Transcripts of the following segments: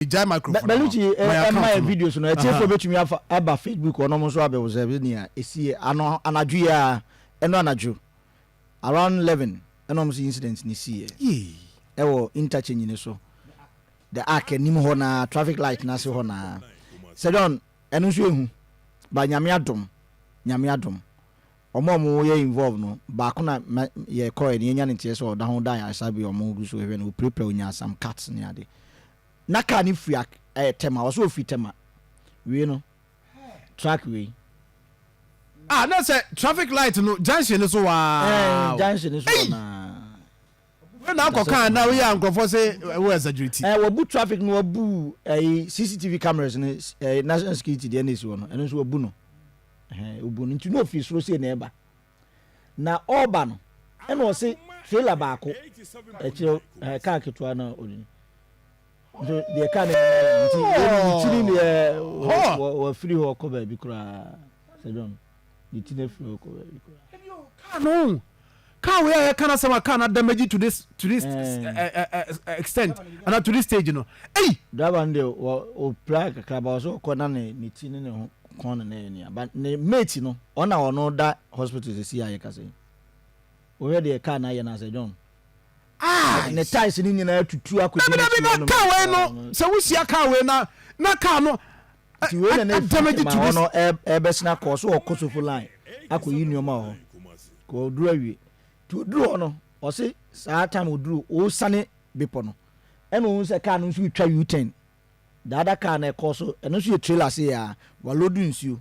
Gyae microphone no ma Bellucci ma yɛ account mmaɛ no. videos no, atiefoɔ Ahaa. bɛtumi afa aba Facebook hɔ na ɔmo nso abɛobserve nea ɛsiiɛ. Ano anadwo yi ara, ɛnɔ anadwo around eleven ɛna ɔmo se incident no siiɛ Yei. ɛwɔ interchange no so, the ark anim hɔ no ara, traffic light no ase hɔ no ara. Sir John, ɛno nso yɛhu but Nyame adom, Nyame adom. Wɔn a wɔn yɛ involve no baako na ma yɛ kɔɛ no yɛ nya ne nteɛ sɛ ɔda ho da ayaresa bi a wɔn gu so hwɛ no opirapira onya some cuts ne ade na car no firi ak ɛyɛ tɛma ɔsɛ ofiri tɛma wie no truck wei Ah na sɛ traffic light no junction no so waa ɛɛ o junction no so hɔ na Wei na akɔ car na woyɛ a nkorɔfoɔ se wo exaggerate. Ɛɛ wɔbu traffic no wɔbu ɛyi CCTV cameras no ɛɛ national security deɛ na esi hɔ no ɛno nso wɔbu no Ɛhɛn, obu no nti na ofi soro sei na ɛreba. Na ɔreba no, ɛna ɔse trailer baako, ɛkyerɛ ɛɛ kaa ketewa na ɔde no. Nso deɛ kaa no nyinaa nti wɔn ne ti ne deɛ wɔafiri hɔ kɔ baabi koraa. Sɛ dɔn, ne ti no afiri hɔ kɔ baabi koraa. Kaa no Car wei a yɛka n'asɛm a car no ada magyi to this to this extent anaa to this stage no ei. Driver no deɛ wɔ ɔpira kakra ba ɔsɛ ɔkɔ na ne ne ti ne ne ho kɔn ne ne yɛ nea ba ne mate no ɔna ɔno da hospital sisi a yɛkasa yi wohwɛ deɛ car no ayɛ no asɛ John. Ah, ne ties ne nyinaa tutu akɔdi ne ti wɔn mu. Car wei no sɛ wohyia car wei na na car no nti wei na na efi ma hɔ no ɛbɛsen akɔ so wɔ kosofo line akɔyi nneɛma wɔ hɔ kò oduru awie nti oduru hɔ no ɔse saa time oduru ɔresane bepɔ no ɛna ohun sɛ kaa no nso retwa u-turn daada kaa no ɛkɔ so ɛno nso yɛ trailer se yɛ a walodu nsuo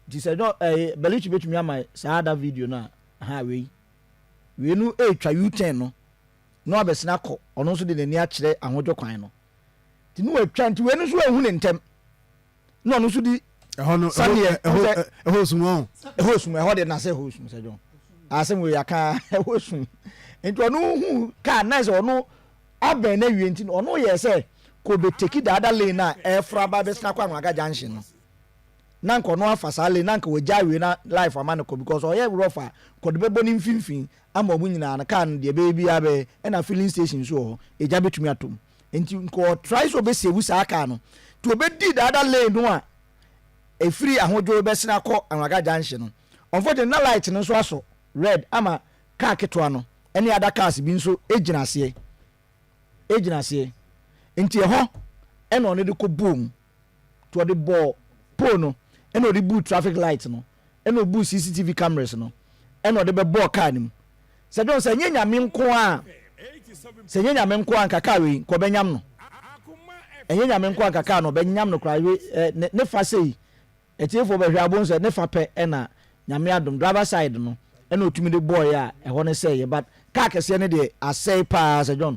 nti sɛ ɛnyɛ ɛɛ bɛlikyi betumi ama saa ada video no a ha wei wei no retwa u-turn no na wabɛsen akɔ ɔno nso de n'ani akyerɛ ahodwo kwan no. nti ne watwa nti wei no nso ahu ne ntɛm na ɔno nso di ɛhɔ no saneɛ ɛhɔ sum ɔn ɛhɔ sum ɛhɔ de nasɛ ɛhɔ sum sɛ dwon asɛm wei aka ɛhɔ sum nti ɔno hu kaa na sɛ ɔno abɛn na wie nti ɔno yɛ sɛ kò bɛ teki daada lane na ɛfra ba bɛ sena kɔ anwaga junction no. na anka ɔno afa saa lane no anka wagyae wei na life ama no kɔ because ɔyɛ rough a kɔ de bɛbɔ ne mfimfini ama ɔmo nyinaa no car no deɛ ɛbɛyɛ biara bɛyɛ ɛna filling station nso wɔ hɔ egya bɛtumi atɔ mu nti nka ɔ try sɛ ɔbɛ save saa car no nti ɔbɛ di the other lane no a ɛfiri ahodwo bɛsene akɔ anwaga junction no unfortunately na light no nso asɔ red ama car ketewa no ɛne other cars bi nso ɛgyina aseɛ ɛgyina aseɛ nti ɛhɔ ɛna ɔno de kɔ buu mu nti ɔde bɔɔ pole no ɛna ɔde buu traffic light no ɛna ɔbuu CCTV cameras no ɛna ɔde bɛbɔɔ car no mu sɛ dɔn sɛ ɛnyɛ nyame nko a sɛ ɛnyɛ nyame nko a nka car wei nka ɔbɛnyam no ɛnyɛ nyame nko a nka car no ɔbɛnyam no koraa hwɛ ne fa sei atiefoɔ bɛhwɛ abon sɛ ne fa pɛ ɛna nyame adom driver side no ɛna ɔtumi de bɔɔyɛ a ɛhɔ no sɛeɛ but car kɛseɛ no deɛ asɛe paa sɛ dɔn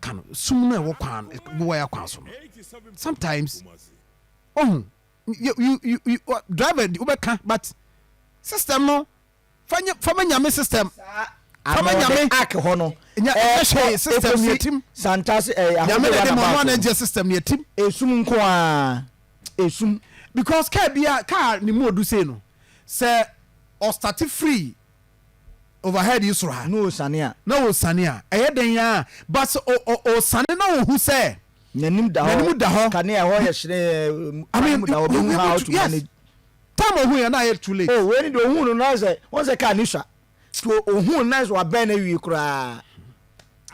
ka no sum no a ɛwɔ kwan bowae akwan so no sometimes ohun you you you driver di wobɛka but system no fanya fama nyame system fama nyame ak hɔ no nya ɛnyɛ hwee system ne atim santase ɛyɛ ahodoɔ nyame na ɛde ma ɔno anagye system ne atim esum nko a esum because kaa bia kaa ne mu odu sei no sɛ ɔstate free overhead yi soro ha. Na ɔresiane a. Na ɔresiane a, ɛyɛ dɛn ara ba sɛ ɔresiane na ɔhu sɛ. N'anim da hɔ. N'anim da hɔ. Kanea ɛhɔ yɛ hyerɛnn. I mean, you, you, you, how to yes. manage. Time ɔhu yɛ na ayɛ too late. Oh, wei ni de ɔhu no na sɛ, wɔn sɛ kaa ni sua. To ɔhu no na sɛ wabɛn na awie koraa.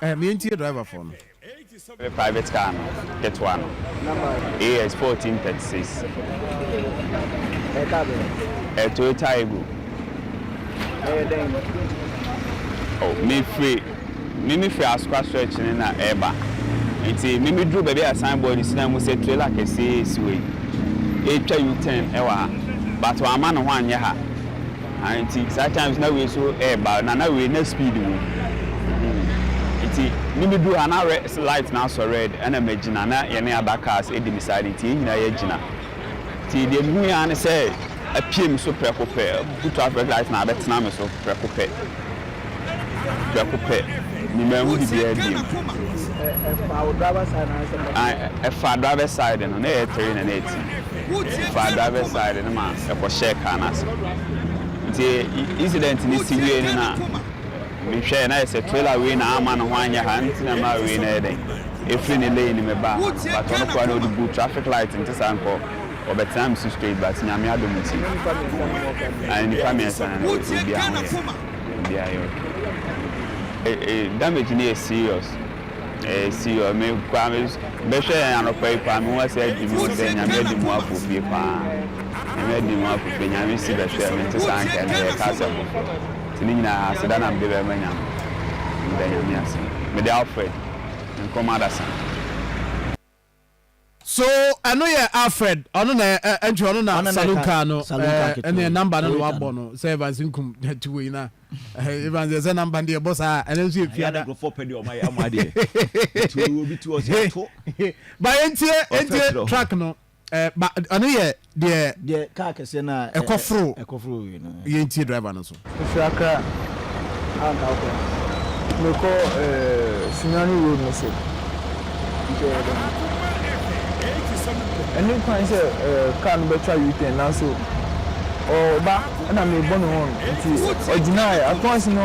Eh me ntie driver foɔ no. Me private car no ketewa no AS 14 36. Ɛyɛ car bɛn? Ɛyɛ Toyota Aygo. Ɛyɛ dɛn? Oh me firi me me firi Asokwa stretch ne na ɛɛba nti me me duru baabi a sign board si na mu sɛ trailer kɛseɛ esi wɔ yi ɛɛtwa U-turn ɛwɔ ha but wɔn ama ne ho anyɛ ha Ae nti saa times na wei so ɛɛba na na wei na speed wɔ mu hmm nti ne me duru ha na re light no asɔ red ɛna magyina na yɛne other cars ɛdi me side nti yɛn nyinaa yɛagyina nti deɛ mehu yɛ ara ne sɛ apue me so prɛko pɛ abutu traffic light na abɛtena me so prɛko pɛ. prɛko pɛ, me manhu biribiara biomƐfaa driver's side no, na ɛyɛ three na na ɛti. Ɛfaa driver's side no ma ɛkɔhyɛɛ car no ase. Nti incident no si wiei no na mehwɛɛ, na ayɛ sɛ trailer wei na amma ne ho anyɛ ha, ɛno nti na ɛmaa wei no yɛ dɛn, ɛfiri ne lane mu baa ha no. But ɔno koraa na ɔde buu traffic light, nte saa nka ɔbɛtenaa me so straight, but Nyame adom nti, nnipa mmiɛnsa no na obiara ho yɛɛ. beaeɛ hɔ. Damage no yɛ serious, ɛyɛ serious. Me koraa me bɛhwɛɛ anɔpa yi paa, mehu asɛ adi mu dɛ Nyame adi mu afo fie paa. Nyame adi mu afo fie, Nyame si bɛhwɛɛ me, nte saa anka ɛnɛ yɛreka asɛm foforɔ. Nti ne nyinaa aseda na mede bɛma Nyame, meda Nyame ase. Mede Alfred Nkrumah Adasa. So ɛno yɛ Alfred ɔno na ɛ ɛ nti ɔno na saloon car no ɛɛ ɛnna number no na wabɔ no sɛ Evans nkum ti wɔ yi na Evans yɛ sɛ number deɛ bɔ saa ɛnna nso yɛ fia da. Ba yɛn tie yɛn tie track no ɛɛ ba ɔno yɛ Deɛ. Deɛ kaa kɛseɛ no a. Ɛkɔ foro. Ɛkɔ foro wei no. Yɛn tie driver no nso. Mefiri Accra anka wo kwan. Mekɔ ɛɛ Sunyani road no so. Nti ɛyɛ dɛn. Ɛne kwan sɛ ɛɛ car no bɛtwa U-turn nanso ɔɔba ɛna mebɔ no horn nti ɔgyinaɛ. Akoasi no.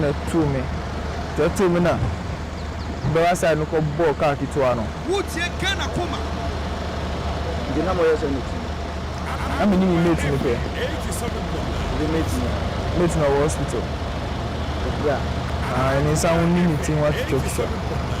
na ɛtoo me. Nti ɛtoo me na Bɛra side no kɔ bɔɔ car ketewa no. Wo tie Ghana koma. Nti na mo yɛ sɛ mo ti. Na me ne me mate no pɛ. Nti mate no. Mate no ɔwɔ hospital. Ɔpira. Aah ne nsa ho ne ne ti ho atwitwa twitwa.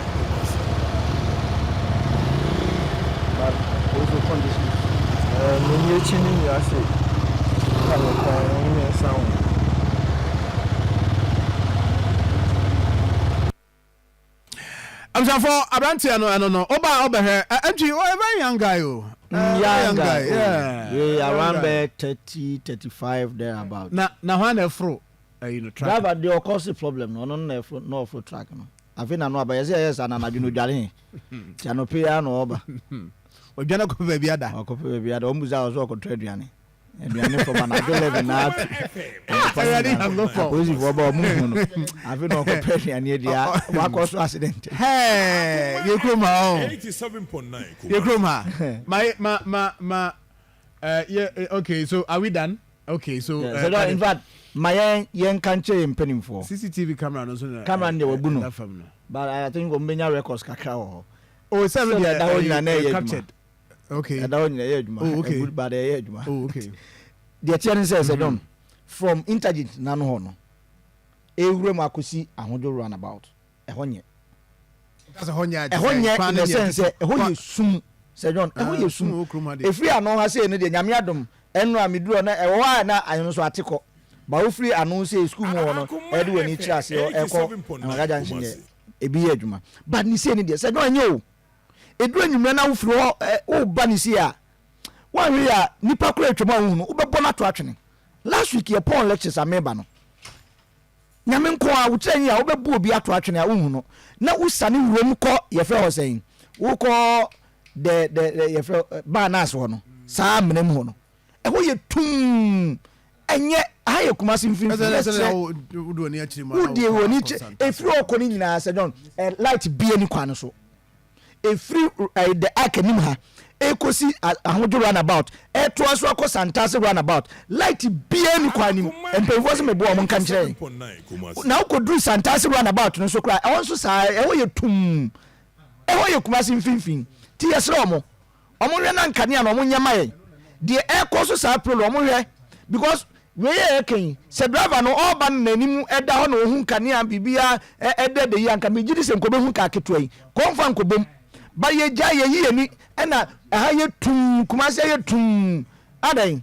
Abusuafoɔ aberanteɛ no ɛno no ɔbaa ɔbɛhwɛ ɛntwi ɔ a very young guy o. Mm young guy oh yeah around bɛyɛ thirty thirty five there about. Na na hwan na ɛforo ɛyi no truck. Driver deɛ ɔkɔ si problem no ɔno no na ɛforo na ɔforo truck no. Afei na no aba. Yɛse yɛyɛ saa na anadwo no odware he. Nti anɔpa yi ara na ɔɔba. Ɔdwane akɔpɛ baabi ada. Ɔkɔpɛ baabi ada. Ɔmo bisa a ɔse ɔɔkɔtɔ aduane. Aduane fam anadwo 11 na atu. Anɔpa no nyinaa apolisifoɔ ba ɔmo nhu no. Afei na ɔɔkɔpɛ aduane adi a wakɔ so accident. Hɛɛ yɛ kurom ha ɔho. Yɛ kurom ha. Ma ma ma ma eh, yeah, eh, okay, so are we done? Okay so ɛɛ. Sɛ dɛ infact ma yɛn yɛn nka nkyerɛ yɛn mpaninfoɔ. CCTV camera no nso na ɛda fam no. Camera no deɛ wabu no but I think wɔn bɛnya records kakra wɔ hɔ. Oh sɛ no deɛ ɛɛ ɛda hɔ nyina na ɛyɛ adwuma. Okay. Ɛda hɔ nyina ɛyɛ adwuma. Oh okay. Ɛgu but ɛyɛ adwuma. Oh okay. Deɛ teɛ ne sɛ sɛ dɔn from intergent n'ano hɔ no ɛwura mu akɔsi ahodwo round about ɛhɔ nyɛ. Ɛhɔ nyɛ in the sense sɛ ɛhɔ yɛ sum sɛ John ɛhɔ ah, yɛ sum efiri ano ha sei no deɛ nyame adom ɛno a meduru na ɛwɔ hɔ a na ayɛ no so ate kɔ ba wofiri ano sei sukuu mu hɔ no ɛde wɔ ani kyerɛ ase hɔ ɛkɔ anagaja nhyɛ nyɛ ebi yɛ adwuma but ne sei no deɛ sɛ John ɛnyɛ o eduru enyimrɛ na wofiri hɔ ɛ woba ne sei a wɔahwɛ yɛ a nipa koro atwam a wohunu wobɛbɔ no ato atwene last week yɛ pɔn lectures ameba no Nyame nko ara, wo tiri anyi a wobɛbu obi ato atwene a wonhu no na wosane wurom kɔ yɛfrɛ hɔ sɛn wokɔ the the the yɛfrɛ baa nurse hɔ no saa amena mu hɔ no ɛhɔ yɛ tumm ɛnyɛ aha yɛ Kumasi mfimfini na ɛkyerɛ wodie wɔ ni kyerɛ ɛfiri ɔkɔ no nyinaa sɛ John eh, light bie ni kwan no so ɛfiri ɛɛ the arc anim ha ɛkɔsi ahodwo runabout ɛtoa so akɔ santaase runabout light biara ni kwan nim mpanyinfoɔ sɛ meboa wɔn nka nkyerɛ na wokɔduru santaase runabout no nso koraa ɛhɔ nso saa ɛhɔ yɛ tum ɛhɔ yɛ kumase mfinfin ti yɛsrɛ wɔn Ɔmo nhwɛ na nkanea no ɔmo nyɛ ma yɛn deɛ ɛkɔ so saa prelo ɔmo nhwɛ because wei a yɛka yi sɛ driver no ɔɔba no nanim ɛda hɔ na ɔhu nkanea biribiaa ɛ ɛdɛɛdɛ yi a nka megyedi sɛ nkɔbɛhu kaa ketewa yi kɔ nfa nkɔbom but yɛgyae yɛyi yɛni ɛna ɛha yɛ tumm kumase ayɛ tumm adɛn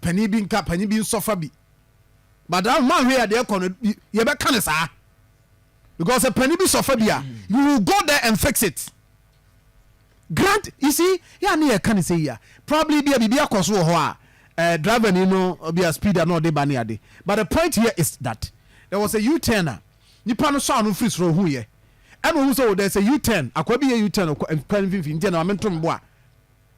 panin bi nka panin bi nsɔfa bi but ahun maa hwɛ yɛ adeɛ kɔ no yɛ bɛ ka ne saa because sɛ panin bi sɔfa bi a you will go there and fix it grant you see yɛ ane yɛ ka ne sɛ yi a probably bi a biribi akɔ so wɔ hɔ a eh, driver ni no bi a speed a na ɔde ba ne ade but the point here is that there was a u-turn a nipa no sɔ ano firi soro ohun yɛ ɛna ohun sɛ o oh, there is a u-turn akwa bi yɛ u-turn kwan mfimfini nti ɛna maame ntom bo a.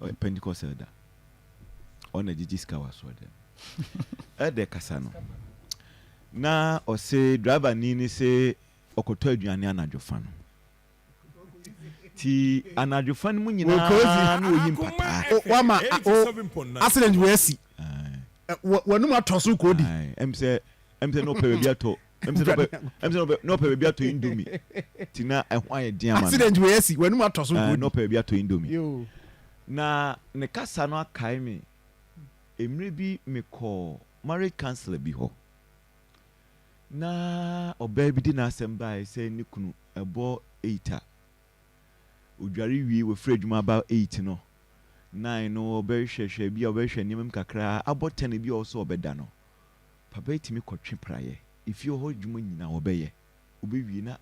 ɔyɛ pentecost elder ɔna gyegye sika wɔ asoɔdɛm elder kasa no na ɔse driver ni ne se ɔkɔtɔ aduane anadwo fa no ti anadwo fa no mu nyinaa na oyi mpataa wama accident wɔ asi wɔnum atɔ so kɔdi ɛm sɛ ɛm sɛ na ɔpɛ baabi atɔ ɛm sɛ n'ɔpɛ ɛm sɛ n'ɔpɛ n'ɔpɛ baabi atɔ indomi ti na ɛho ayɛ den ama no accident wei asi wɔn anum atɔ so ɛɛ n'ɔpɛ baabi atɔ indomi yoo na ne kasa no akae me mmerɛ bi mekɔ marriage counselor bi hɔ na ɔbaa bi de n'asɛm baeɛ sɛ ne kunu ɛbɔ eight a odware wie wafiri adwuma aba eight no nine no ɔbɛhwɛhwɛ bi a ɔbɛhwɛ nneɛma mu kakra abɔ ten bi a ɔsɛ ɔbɛda no Papa tumi kɔtwe praeɛ, efie hɔ adwuma nyinaa ɔbɛyɛ, ɔbɛwie na